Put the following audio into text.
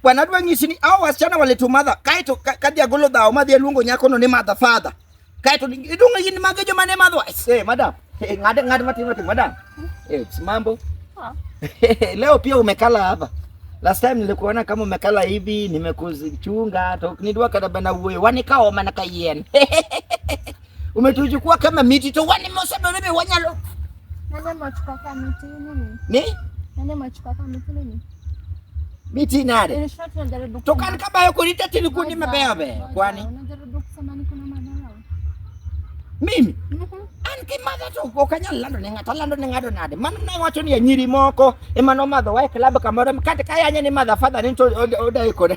Bwana adwa nyisi ni hao wasichana waleto madha kaito kadhi agolo dhawo madhi aluongo nyakono ni madha father. Kaito idunga yini mage joma ne madho. Eh, madam. Eh, ng'ad ng'ad matin matin madam. Eh, mambo. Ah. Leo pia umekala hapa. Last time nilikuona kama umekala hivi, nimekuchunga, toknidwa kadabana uwe, wanikao manaka yen. Umetuchukua kama miti to wani mosaba mimi wanyalo. Nani machukua kama miti nini? Ni? Nani machukua kama miti nini? Miti nare. Tokana kama yuko nita tilikundi mabebe. Kwani? Unajaribu kusema niko na madharau. Mimi? Mhm. Mm an ki madha to ko kanyal lando ne ngata lando ne ngado nade man ne wacho ni nyiri moko e mano madho wa e club kamoro kata kaya nyani madha father ni to oda ikode